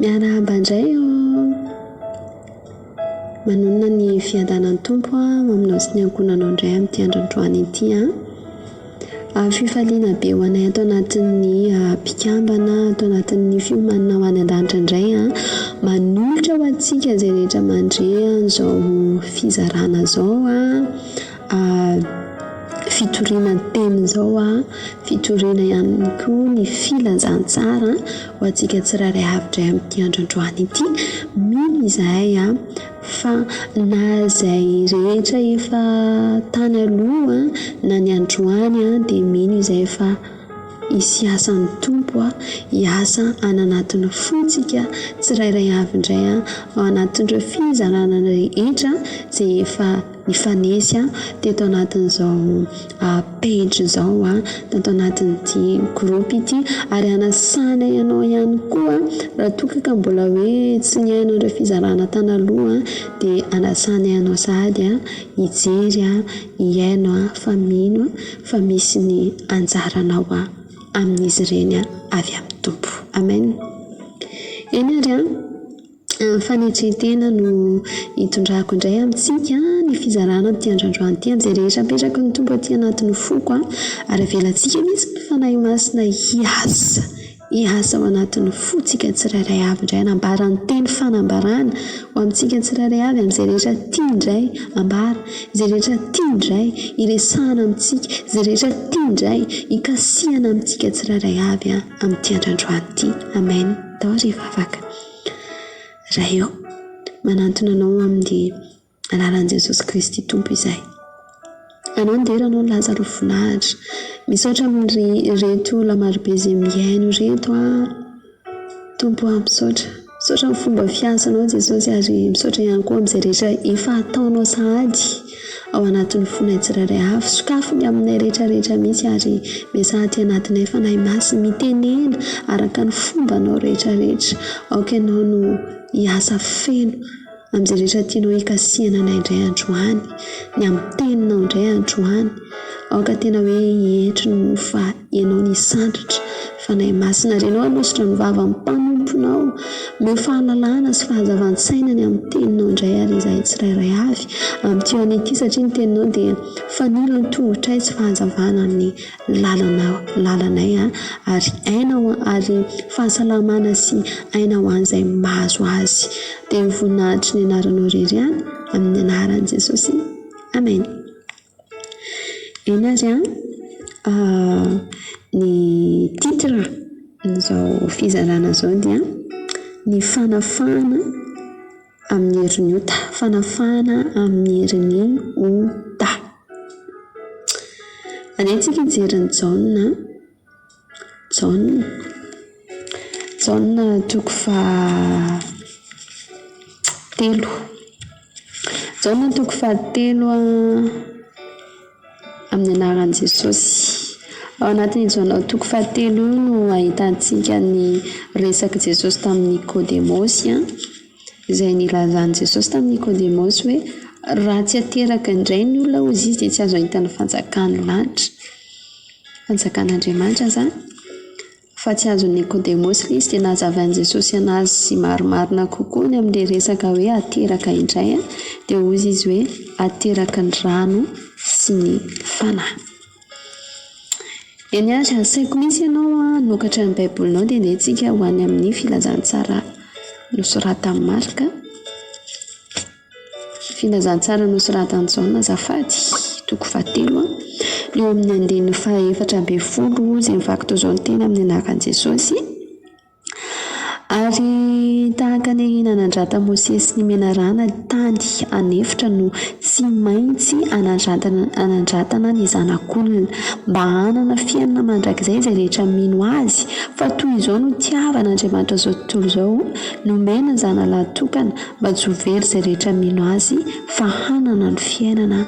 Miarahaba indray o! Manonona ny fiadanan'ny Tompo ho aminao sy ny ankohonanao indray amin'ity andro androany ity an! Fifaliana be ho anay ato anatin'ny mpikambana, ato anatin'ny fiomanana ho any an-danitra indray an! Manolotra ho antsika izay rehetra mandre an'izao fizarana izao an! fitoriana ny teny izao an, fitoriana ihany koa ny filazantsara ho antsika tsirairay avy indray amin'ity andro androany ity, mino izahay an, fa na izay rehetra efa tany aloha na ny androany an dia mino izahay fa hisy asa ny Tompo an, hiasa any anatin'ny fontsika tsirairay avy indray an, ao anatin'ireo fizarana rehetra izay efa. Nifanesy teto anatin'izao page izao tato anatin'ity groupe ity ary anasana ianao ihany koa raha toa ka mbola hoe tsy nihaino ireo fizarana tany aloha dia anasana ianao sahady hijery hihaino fa mino fa misy ny anjaranao amin'izy ireny avy amin'ny Tompo. Amen. Eny ary an. Ny fanetren-tena no itondrako indray amintsika ny fizarana amin'ity andrandroany ity amin'izay rehetra apetraky ny Tompo aty anatin'ny foko ary avelantsika mihitsy ny Fanahy Masina hiasa, hiasa ao anatin'ny fontsika tsirairay avy indray hanambara ny teny fanambarana ho amintsika tsirairay avy amin'izay rehetra tia indray ambara, izay rehetra tia indray iresahana amintsika, izay rehetra tia indray hikasihana amintsika tsirairay avy amin'ity andrandroany ity. Amen. Atao ry vavaka. Ray ô, manantona anao amin'ny alalan'i Jesosy Kristy Tompo izahay. Anao ny dera, anao ny laza ary voninahitra. Misaotra amin'ireto olona maro be izay mihaino ireto an. Tompo o, misaotra. Misaotra amin'ny fomba fiasanao Jesosy ary misaotra ihany koa amin'izay rehetra efa ataonao sahady. ao anatin'ny fonay tsirairay avy. Sokafy ny aminay rehetra rehetra misy ary miasa aty anatinay Fanahy Masina. Mitenena araka ny fombanao rehetra rehetra. Aoka ianao no hiasa feno amin'izay rehetra tianao hikasihana anay indray androany. Ny amin'ny teninao indray androany. Aoka tena hoe hietry ny mofo vary. Ianao ny sandratra, Fanahy Masina ary Ianao hanositra ny vavan'ny mpanomponao. Omeo fahalalahana sy fahazavan-tsaina ny amin'ny Teninao indray ary izahay tsirairay avy. Amin'ity andro ity satria ny Teninao dia fanilo ny tongotray sy fahazavana ny lalanao, lalanay ary aina ho ary fahasalamana sy aina ho an'izay mahazo azy. Dia ho voninahitry ny Anaranao irery ihany, amin'ny Anaran'i Jesosy, Amena. Eny ary an, ny titre an'izao fizarana izao dia ny fanafahana amin'ny herin'ny ota, fanafahana amin'ny herin'ny ota. Alehantsika hijery an'i Jaona an. Jaona Jaona toko fahatelo Jaona toko fahatelo a amin'ny anaran'i Jesosy. Ao anatin'i Jaona toko fahatelo io no ahitantsika ny resak'i Jesosy tamin'i Nikôdemôsy an, izay nilazan'i Jesosy tamin'i Nikôdemôsy hoe raha tsy ateraka indray ny olona hozy izy de tsy azo ahita ny fanjakan'ny lanitra. Fanjakan'Andriamanitra izany. Fa tsy azon'i Nikodemosy ilay izy dia nahazavan'i Jesosy an'azy sy marimarina kokoa ny amin'ilay resaka hoe hateraka indray an, dia hozy izy hoe hateraky ny rano sy ny Fanahy. Eny ary asaiko misy ianao hanokatra ny Baibolinao dia andeha tsika ho any amin'ny filazantsara nosoratan'i Marka. Filazantsara nosoratan'i Jaona azafady, toko fahatelo an, eo amin'ny andininy fahaefatra ambin'ny folo izay mivaky toy izao ny teny amin'ny anaran'i Jesosy, Ary tahaka ny ahiana nandrata Mosesy ny menarana tany an'efitra no tsy maintsy anandrantana anandratana ny Zanak'olona, mba hanana fiainana mandrakizay izay rehetra mino Azy, fa toy izao no itiavan'Andriamanitra izao tontolo izao, nomeny ny Zanalahitokana, Mba tsy ho very izay rehetra mino azy fa hanana ny fiainana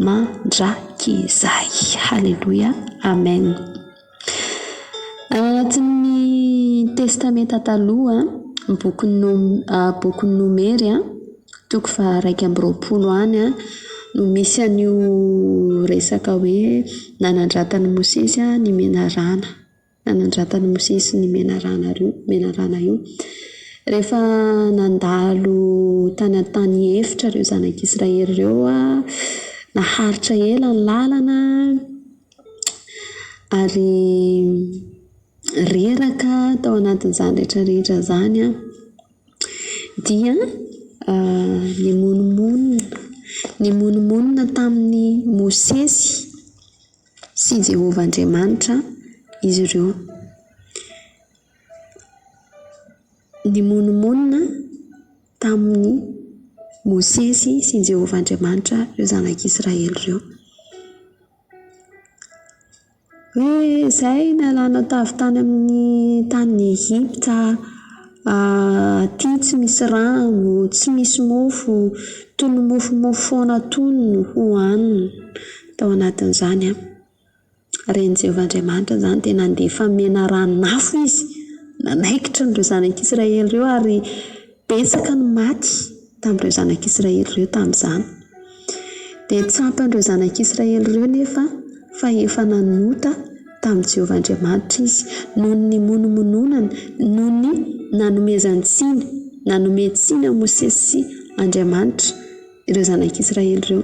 mandrakizay. Haleloia Amen. Anatin'ny testamenta taloha ny bokin'ny nom- bokin'ny nomery a toko faha iraika amby roapolo any a no misy an'io resaka hoe nanandratan'i Mosesy ny menarana. Nanandratan'i Mosesy ny menarana io menarana io. Rehefa nandalo tany an-tany efitra ireo zanak'i Israely ireo an, naharitra ela ny lalana ary reraka tao anatin'izany rehetra rehetra izany an, dia nimonomonona nimonomonona tamin'i Mosesy. sy Jehovah Andriamanitra izy ireo. Nimonomonona tamin'i Mosesy sy Jehovah Andriamanitra ireo zanak'Israely ireo. Hoe izay nalana tavy tany amin'ny tany Egypta, ah, aty tsy misy rano, tsy misy mofo, tono mofomofo foana tono hohanina. Tao anatin'izany, ren'i Jehovah Andriamanitra izany dia nandefa menarana-nafo izy nanaikitra an'ireo zanak'Israely ireo, ary betsaka no maty tamin'ireo zanak'Israely ireo tamin'izany. Dia tsapan'ireo zanak'Israely ireo anefa fa efa nanota tamin'i Jehovah Andriamanitra izy, noho ny nimonomononany, noho ny nanomezan-tsiny, nanome tsiny an'i Mosesy sy Andriamanitra. ireo zanak'Israely ireo.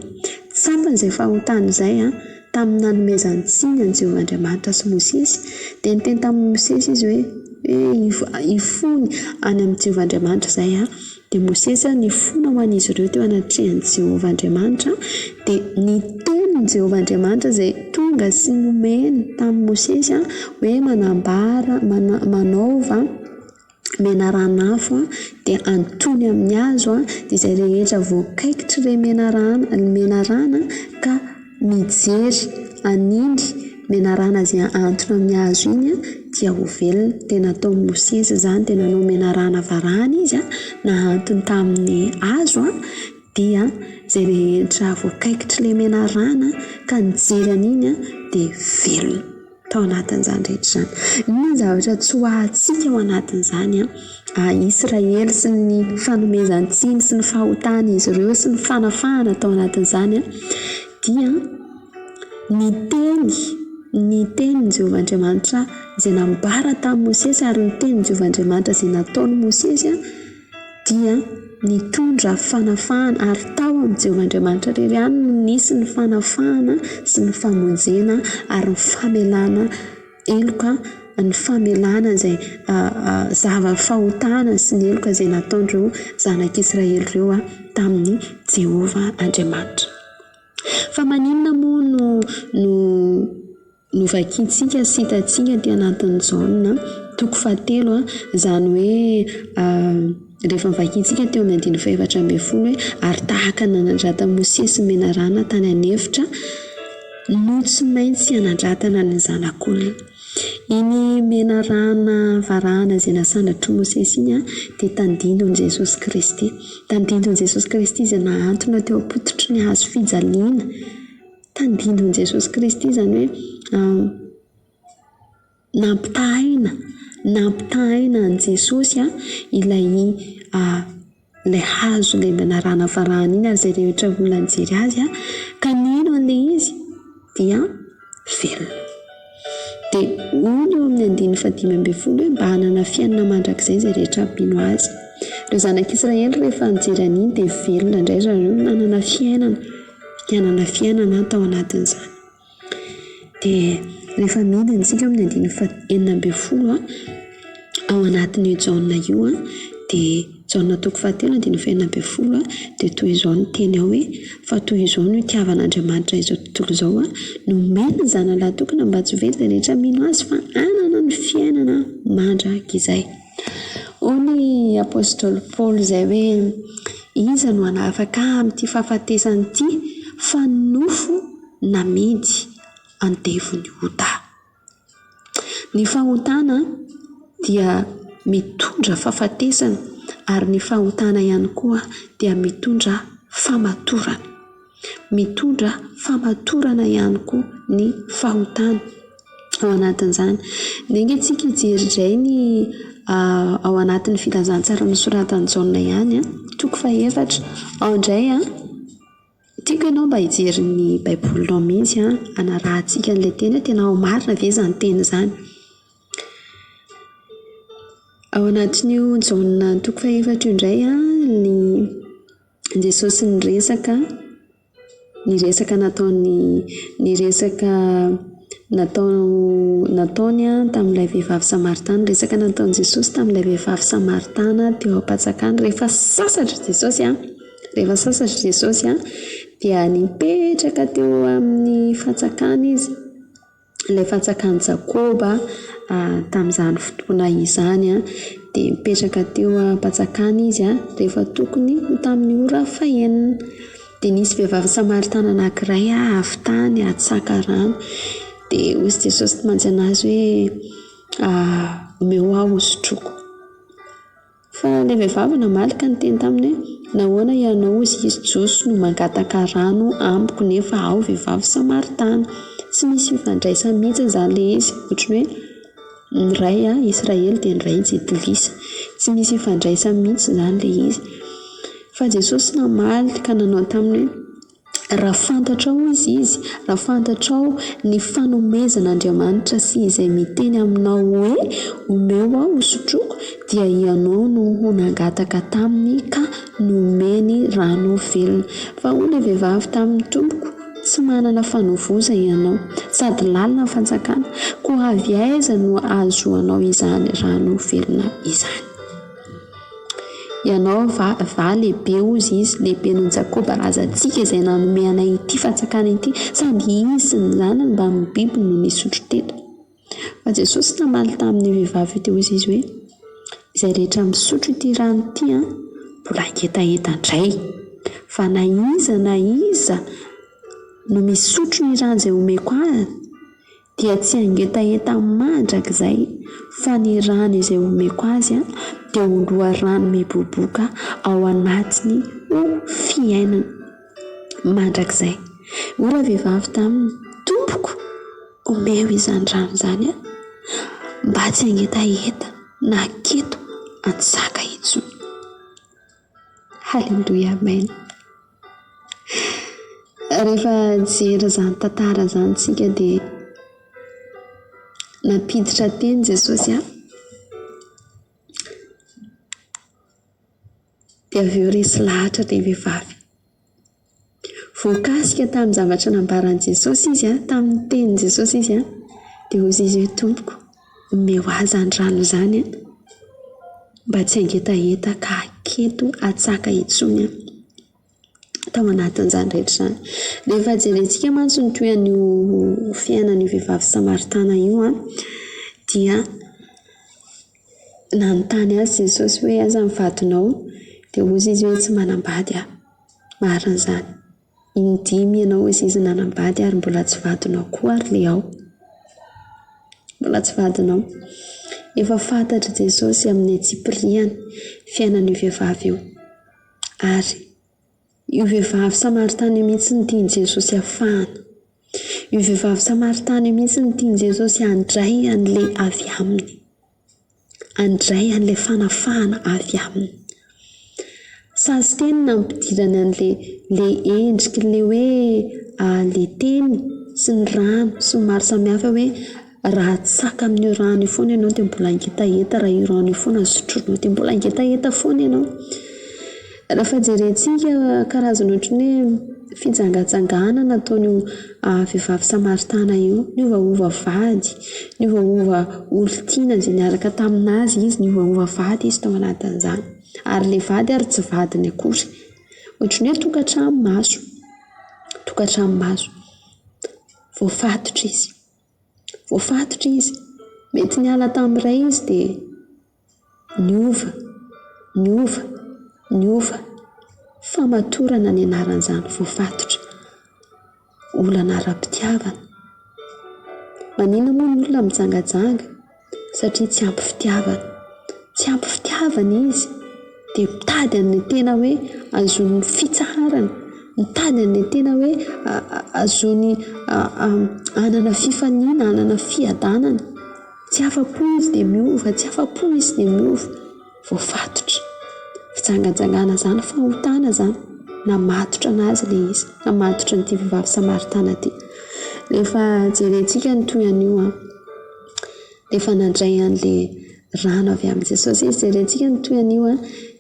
Tsapany izay fahotany izay tamin'ny nanomezany tsiny an'i Jehovah Andriamanitra sy Mosesy, dia niteny tamin'i Mosesy izy hoe hoe hifony any amin'i Jehovah Andriamanitra izay. Dia Mosesy nifona ho an'izy ireo teo anatrehan'i Jehovah Andriamanitra, dia ny tenin'i Jehovah Andriamanitra izay tonga sy nomeny tamin'i Mosesy hoe manambara, manaova menarana-afo dia antoiny amin'ny hazo dia izay rehetra voakaikitry ilay menarana menarana ka mijery an'iny menarana izay antona amin'ny hazo iny a dia ho velona dia nataon'i Mosesy izany dia nanao menarana varahana izy a nahantony tamin'ny hazo a dia izay rehetra voakaikitry ilay menarana ka nijery an'iny a dia velona tao anatin'izany rehetra izany. Inona ny zavatra tsy ho ahintsika ao anatin'izany an? Israely sy ny fanomezan-tsiny sy ny fahotan'izy ireo sy ny fanafahana tao anatin'izany an, dia ny teny, ny tenin'i Jehovah Andriamanitra izay nambara tamin'i Mosesy ary ny tenin'i Jehovah Andriamanitra izay nataon'i Mosesy an. dia nitondra fanafahana ary tao amin'i Jehovah Andriamanitra irery ihany no nisy ny fanafahana sy ny famonjena ary ny famelana heloka ny famelana izay zava-fahotana sy ny heloka izay nataon'ireo zanak'Israely ireo tamin'i Jehovah Andriamanitra. Fa maninona moa no no Novakintsika sy hitantsika aty anatin'ny Jaona toko fahatelo a, izany hoe rehefa novakintsika teo amin'ny andininy fahefatra ambin'ny folo hoe, ary tahaka ny nanandratany Mosesy menarana tany an'efitra no tsy maintsy hanandratana ny zanak'olona. Iny menarana varahana izay nasandratr'i Mosesy iny an, dia tandindon'i Jesosy Kristy. Tandindon'i Jesosy Kristy izay nahantona teo am-pototry ny hazo fijaliana. Tandindon'i Jesosy Kristy izany hoe nampitahaina, nampitahaina an'i Jesosy ilay ilay hazo ilay mba narahanavahana iny ary izay rehetra olona nijery azy ka nino an'ilay izy dia velona. Dia hono eo amin'ny andininy fahadimy ambin'ny folo hoe mba hanana fiainana mandrakizay izay rehetra mpino azy. Ireo zanak'i Israely rehefa nijery an'iny dia velona indray ry zareo no nanana fiainana, nanana fiainana tao anatin'izany. Dia rehefa midina isika amin'ny andininy faha enina ambin'ny folo ao anatin'io Jaona io dia. Jaona toko fahatelo andininy fahenina ambin'ny folo dia toy izao no teny ao hoe, Fa toy izao no itiavan' Andriamanitra izao tontolo izao, nomeny ny Zanany lahatokiny mba tsy ho very izay rehetra mino Azy fa hanana ny fiainana mandrakizay. Hoy ny apostoly Paoly izay hoe, Iza no hanafaka ahy amin'ity fahafatesana ity, fa ny nofo namidy andevon'ny ota. Ny fahotana dia mitondra fahafatesana ary ny fahotana ihany koa dia mitondra famatorana. Mitondra famatorana ihany koa ny fahotana ao anatin'izany. Niainga antsika hijery indray ny ao anatin'ny filazantsara nosoratan'i Jaona ihany, toko faha efatra, ao indray an. Tiako ianao mba hijery ny baibolinao mihitsy an, hanarahantsika an'ilay teny hoe tena marina ve izany teny izany. Ao anatin'io Jaona toko fahefatra io indray an, ny Jesosy niresaka, niresaka nataon'ny, niresaka natao- nataony an tamin'ilay vehivavy samaritana, resaka nataon'i Jesosy tamin'ilay vehivavy samaritana teo am-panjakana rehefa sasatra Jesosy an. Rehefa sasatra Jesosy an, dia nipetraka teo amin'ny fatsakana izy, ilay fatsakan'i Jakoba tamin'izany fotoana izany an, dia nipetraka teo am-patsakana izy an, rehefa tokony ho tamin'ny ora fahenina, dia nisy vehivavy samaritana anakiray avy tany hatsaka rano, dia hoy Jesosy tamin'azy hoe omeo ahy hosotroiko. Fa ilay vehivavy namaly ka niteny taminy hoe, Nahoana hianao, hozy izy, Jiosy no mangataka rano amiko nefa aho vehivavy Samaritana? Tsy misy fifandraisany mihitsy izany ilay izy, ohatran'ny hoe ny ray an, Israely dia ny ray Jentilisa. Tsy misy ifandraisany mihitsy izany ilay izy. Fa Jesosy namaly ka nanao taminy hoe, Raha fantatrao, hoy izy, raha fantatrao ny fanomezan'Andriamanitra sy izay miteny aminao hoe, Omeo aho hosotroiko, dia ianao no ho nangataka taminy ka nomeny rano velona. Fa hoy ilay vehivavy taminy, Tompoko, tsy manana fanovoza ianao, sady lalina ny fantsakana, koa avy aiza no ahazoanao izany rano velona izany? Ianao va, va lehibe hozy izy, lehibe noho Jakoba razantsika izay nanome anay ity fantsakana ity? Sady izy sy ny zanany mbamin'ny biby no nisotro teto. Fa Jesosy namaly tamin'io vehivavy io dia hoy Izy hoe, Izay rehetra misotro ity rano ity an, mbola hangetaheta indray. Fa na iza na iza no misotro ny rano izay homeko azy, dia tsy hangetaheta mandrakizay fa ny rano izay omeko azy dia ho loharano miboboka ao anatiny ho fiainany mandrakizay. Hoy ravehivavy taminy, Tompoko, omeo izany rano izany ahy mba tsy hangetaheta na keto an-tsaka intsony. Aleloia Amen. Rehefa nijery izany tantara izany tsika de nampiditra teny Jesosy an, de avy eo resy lahatra le vehivavy. Voakasika tamin'ny zavatra nambaran'i Jesosy izy an, tamin'ny tenin'i Jesosy izy an, dia hozy izy hoe, Tompoko, omeo ahy izany rano izany an, mba tsy hangetaheta ka haketo hatsaka intsony aho. Tao anatin'izany rehetra izany. Rehefa jerentsika mantsy ny tohin'io fiainan'io vehivavy samaritana io an, dia nanontany azy Jesosy hoe aiza ny vadinao? Dia hozy izy hoe tsy manam-bady aho. Marina izany. In-dimy ianao hoy izy nanambady ary mbola tsy vadinao koa ary le ao. Mbola tsy vadinao. Efa fantatr'i Jesosy amin'ny antsipirihany fiainan'io vehivavy io. Ary io vehivavy samaritana io mihitsy no tian'i Jesosy afahana. Io vehivavy samaritana io mihitsy no tian'i Jesosy handray an'ilay avy aminy. handray an'ilay fanafahana avy Aminy. Sazy teny ny nampidirany an'ilay ilay endriky ilay hoe ilay teny sy ny rano sy ny maro samy hafa hoe raha atsaka amin'io rano io foana ianao dia mbola ngetaheta, raha io rano io foana sotroinao dia mbola ngetaheta foana ianao. Rehefa jerentsika karazana ohatran'ny hoe fijangajangana nataon'io vehivavy samaritana io, niovaova vady, niovaova olon-tiana izay niaraka tamin'azy izy, niovaova vady izy tao anatin'izany. Ary ilay vady ary tsy vadiny akory. Ohatran'ny hoe tokantrano maso, tokantrano maso. Voafatotra izy. Voafatotra izy. Mety niala tamin'ny iray izy dia niova, niova, niova. Famatorana ny anaran'izany voafatotra. Olana ara-pitiavana. Maninona moa ny olona mijangajanga? satria tsy ampy fitiavana. Tsy ampy fitiavana izy dia mitady an'le tena hoe azon'ny fitsaharana, mitady an'le tena hoe azony hanana fifaliana, hanana fiadanana. Tsy afa-po izy dia miova, tsy afa-po izy dia miova. Voafatotra. Fijangajangana zany, fahotana zany. Namatotra an'azy le izy, namatotra an'ity vehivavy samaritana ty. Rehefa jerentsika ny toy an'io an. dia efa nandray an'le rano avy amin'i Jesosy izy, jerentsika ny tohin'io an,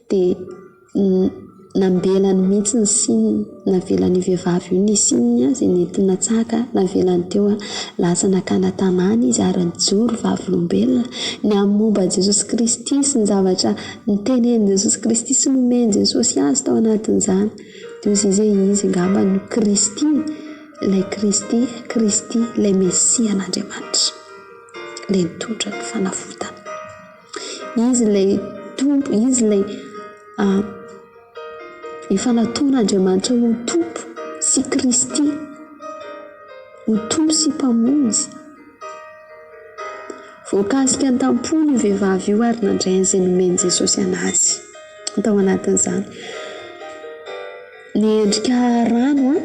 dia nambenany mihintsy ny sininy, navelan'io vehivavy io nisininy an, izay nentiny natsaka, navelany teo an, lasa nakana tanàna izy ary nijoro vavolombelona, nihaino momba an'i Jesosy Kristy sy ny zavatra nitenenin'i Jesosy Kristy sy nomen'i Jesosy azy tao anatin'izany, dia hoy izy hoe izy angamba no Kristy. Ilay Kristy, Kristy, ilay Mesia an'Andriamanitra, ilay nitondra ny fanavotana. Izy ilay Tompo, Izy ilay efa nataon'Andriamanitra ho Tompo sy Kristy, ho Tompo sy Mpamonjy. Voakasika an-tamponana io vehivavy io ary nandray an'izay nomen'i Jesosy an'azy. Tao anatin'izany, niendrika rano an,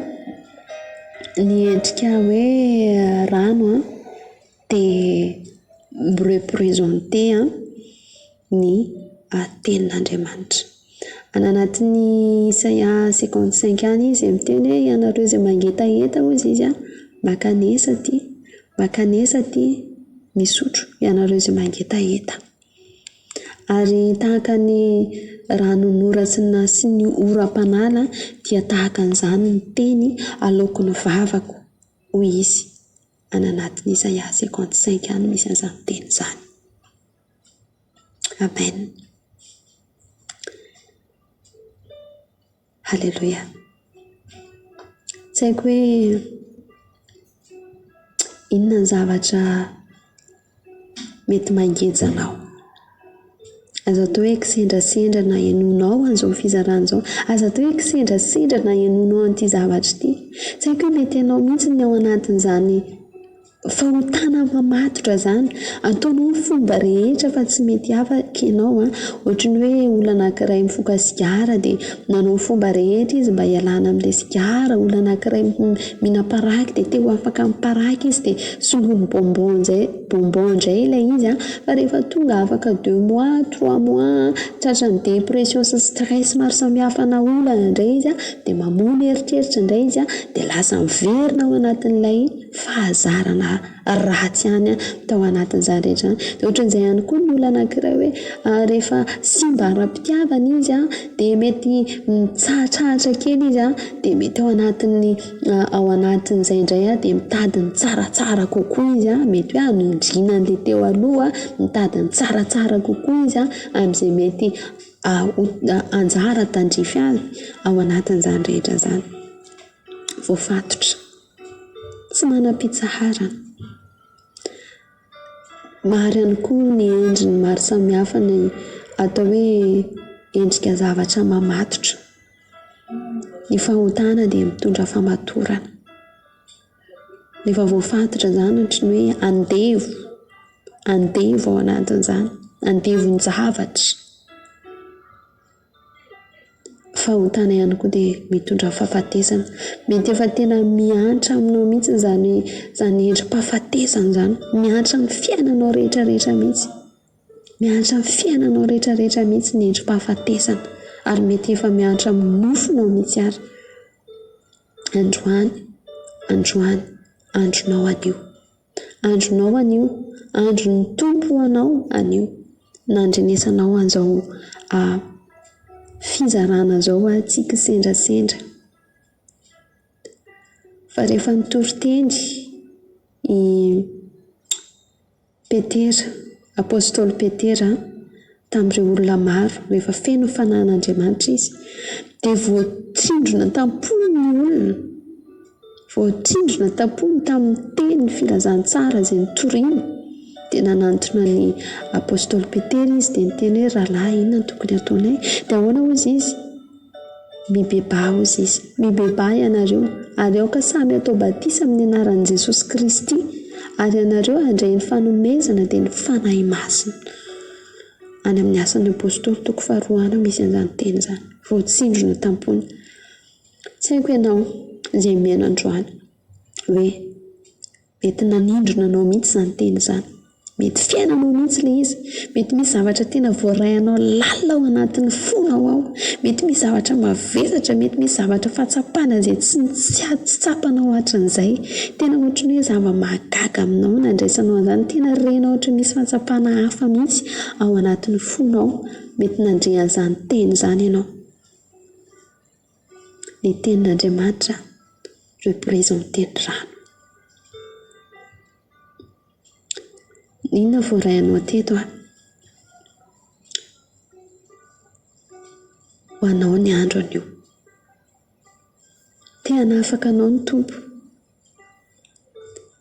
niendrika hoe rano an, dia mi-representer an. ny tenin'Andriamanitra. Any anatin'ny Isaia cinquante cinq any izy dia miteny hoe ianareo izay mangetaheta hozy izy a, mankanesa aty, mankanesa aty misotro ianareo izay mangetaheta. Ary tahaka ny ranon'ora sy ny sy ny oram-panala dia tahaka an'izany ny teny aleoko ny vavako hoy izy, any anatin'ny Isaia cinquante cinq any misy an'izany teny izany. Amen! Haleloia! Tsy haiko hoe inona ny zavatra mety mangeja anao. Aza atao hoe kisendrasendra na henoinao an'izao fizarana izao, aza atao hoe kisendrasendra na henoinao an'ity zavatra ity. Tsy haiko hoe mety anao mihitsy ny ao anatin'izany. Fahotana mamatotra zany. Ataonao ny fomba rehetra fa tsy mety afaka enao an. Ohatry ny hoe olana ankiray mifoka sigara de nanao ny fomba rehetra izy mba hialana amle sigara, olana ankiray mihina paraky de te ho afaka amin'ny paraky izy de soloiny bonbon njay, bonbon ndray ilay izy an, fa rehefa tonga afaka deux mois, trois mois an, tratran'ny dépression sy stress maro samihafa ana olana ndray izy an, de mamono eritreritra ndray izy an, de lasa miverina ao anatin'ilay. fahazarana ratsy ihany tao anatin'izany rehetra izany. Dia ohatran'izay ihany koa ny olona anankiray hoe rehefa simba ara-pitiavana izy dia mety mitsahatrahatra kely izy dia mety ao anatin'ny ao anatin'izay indray dia mitady ny tsaratsara kokoa izy mety hoe hamindrina an'ilay teo aloha, mitady ny tsaratsara kokoa izy amin'izay mety ho anjara tandrify azy ao anatin'izany rehetra izany. Voafatotra. tsy manam-pitsaharana. Maro ihany koa ny endriny maro samihafa ny atao hoe endrika zavatra mamatotra. Ny fahotana dia mitondra famatorana, efa voafatotra izany ohatra ny hoe andevo, andevo ao anatin'izany, andevon-javatra. Fahotana ihany koa dia mitondra fahafatesana. Mety efa tena mihantra aminao mihitsy izany izany endri-pahafatesana izany. Mihantra amin'ny fiainanao rehetra rehetra mihitsy. Mihantra amin'ny fiainanao rehetra rehetra mihitsy ny endri-pahafatesana. Ary mety efa mihantra amin'ny nofonao mihitsy ary. Androany, androany, andronao hadio. Andronao anio, andron'ny Tompo ho anao anio. Nandrenesanao an'izao fizarana izao aho tsy kisendrasendra. Fa rehefa nitory teny i Petera, apostoly Petera. tamin'ireo olona maro, rehefa feno ny fanahin'Andriamanitra izy, dia voatsindrona an-tampony ny olona, voatsindrona an-tampony tamin'ny teny filazantsara izay notoriny, dia nanantona ny apostoly Petera izy dia niteny hoe, rahalahy inona no tokony hataonay? Dia ahoana hoy izy? Mibebaha hozy izy. Mibebaha ianareo, ary aoka samy hatao batisa amin'ny anaran'i Jesosy Kristy, ary ianareo handray ny fanomezana dia ny Fanahy Masina. Any amin'ny Asan'ny Apostoly toko faharoa any misy an'izany teny izany. Voatsindrona tam-pony. Tsy haiko ianao izay mihaino androany hoe. Mety nanindrona anao mihitsy izany teny izany. Mety fiainanao mihitsy ilay izy. Mety misy zavatra tena voaray anao lalina ao anatin'ny fonao ao. Mety misy zavatra mavesatra, mety misy zavatra fahatsapana izay tsy tsy tsapanao hatrizay. Tena ohatra ny hoe zava-mahagaga aminao no nandraisanao an'izany. Tena renao ohatra misy fahatsapana hafa mihitsy ao anatin'ny fonao. Mety nandre an'izany teny izany ianao. Ny tenin'Andriamanitra represente ny rano. Inona voarainao teto an? Ho anao ny andro anio. Te hanafaka anao ny Tompo.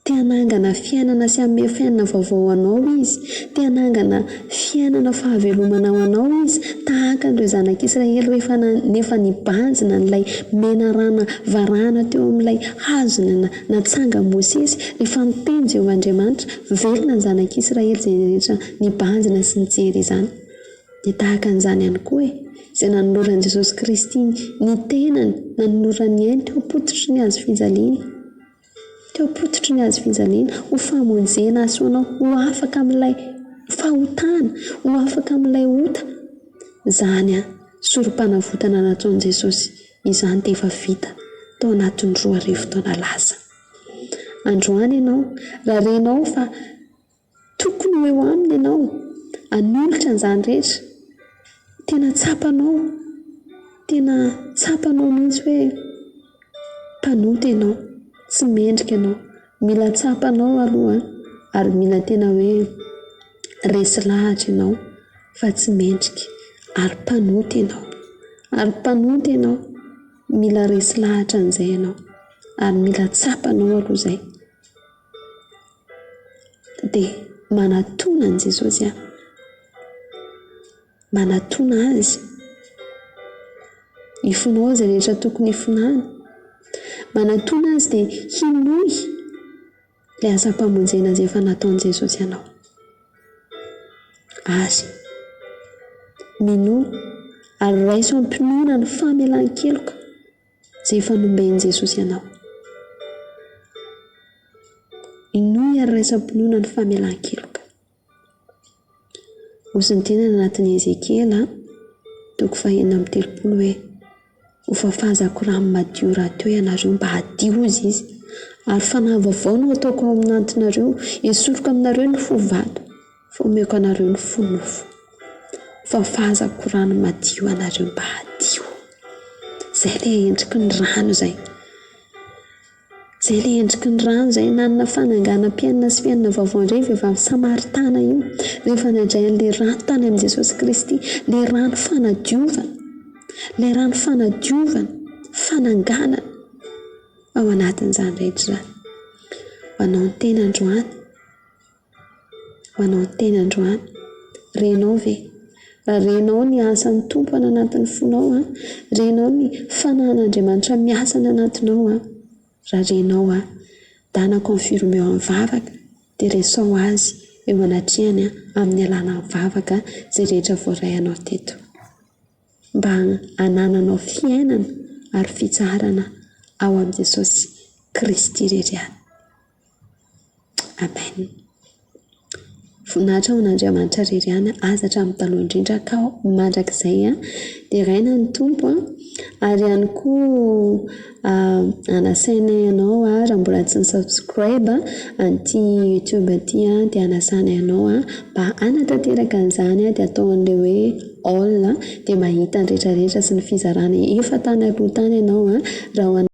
Te hanangana fiainana sy hanome fiainana vaovao ho anao Izy. Te hanangana fiainana fahavelomana ho anao Izy, tahaka an'ireo Zanak'Israely rehefa na- nefa nibanjina an'ilay menarana varahana teo amin'ilay hazo na- natsangan'i Mosesy, rehefa niteny Jehovah Andriamanitra. Velona ny Zanak'Israely izay rehetra nibanjina sy nijery izany. Dia tahaka an'izany ihany koa e, izay nanoloran'i Jesosy Kristy ny tenany, nanolorany ny ainy teo am-pototry ny hazo fijaliana, teo am-pototry ny hazo fijaliana, ho famonjena hahasoa anao ho afaka amin'ilay fahotana, ho afaka amin'ilay ota. Izany Sorompanavotana nataon'i Jesosy izany dia efa vita tao anatin'ny roa arivo taona lasa. Androany ianao, raha renao fa. Tokony ho eo aminy ianao, hanolotra an'izany rehetra. Tena tsapanao, tena tsapanao mihitsy hoe mpanota ianao, tsy mendrika ianao. Mila tsapa anao aloha ary mila tena hoe resy lahatra ianao fa tsy mendrika ary mpanota ianao. Ary mpanota ianao, mila resy lahatra an'izay ianao ary mila tsapanao aloha izay. dia manatona an'i Jesosy aho, manatona Azy hifonao izay rehetra tokony hifonao, manatona Azy dia hinoy ilay asam-pamonjena izay efa nataon'i Jesosy anao, ary minoa ary raiso am-pinoana ny famelan-keloka. izay efa nomben'i Jesosy anao. Inoy ary raisam-pinoana ny famelan-keloka. Nosy ny tenany anatin'i Ezekiela, toko fahenina amby telopolo hoe, ho fafazako rano madio rahateo ianareo mba hadio, hozy izy, ary fanahy vaovao no ataoko ao amin'antinareo, esoriko aminareo ny fo vato. Fa omeko anareo ny fo nofo, fafazako rano madio anareo mba hadio. Izay ilay endriky ny rano izay. Izay ilay endriky ny rano izay nanana fananganam-piainana sy fiainana vaovao indray ny vehivavy samaritana io, rehefa nandray an'ilay rano tany amin'i Jesosy Kristy, ilay rano fanadiovana, ilay rano fanadiovana, fananganana ao anatin'izany rehetra izany. Ho anao ny tena androany. Manao tena androany. Renao ve? Raha renao ny asan'ny Tompo any anatin'ny fonao an, renao ny fanahin'Andriamanitra miasa any anatinao an, raha renao an, dana confirme eo amin'ny vavaka dia resao Azy eo anatrehany an, amin'ny alalany vavaka izay rehetra voaray anao teto. Mba hanananao fiainana ary fitsaharana ao amin'i Jesosy Kristy irery ihany. Amen. Voninahitra ho an'Andriamanitra irery ihany aza hatramin'ny taloha indrindra ka mandrakizay an, deraina ny Tompo an, ary ihany koa anasainay anao raha mbola tsy ny subscribe an'ity youtube ity an, dia anasanay anao an, mba hanatanteraka an'izany an, dia atao an'ilay hoe all dia mahita ny rehetra rehetra sy ny fizarana efa tany aloha tany ianao an, raha ho an'ny.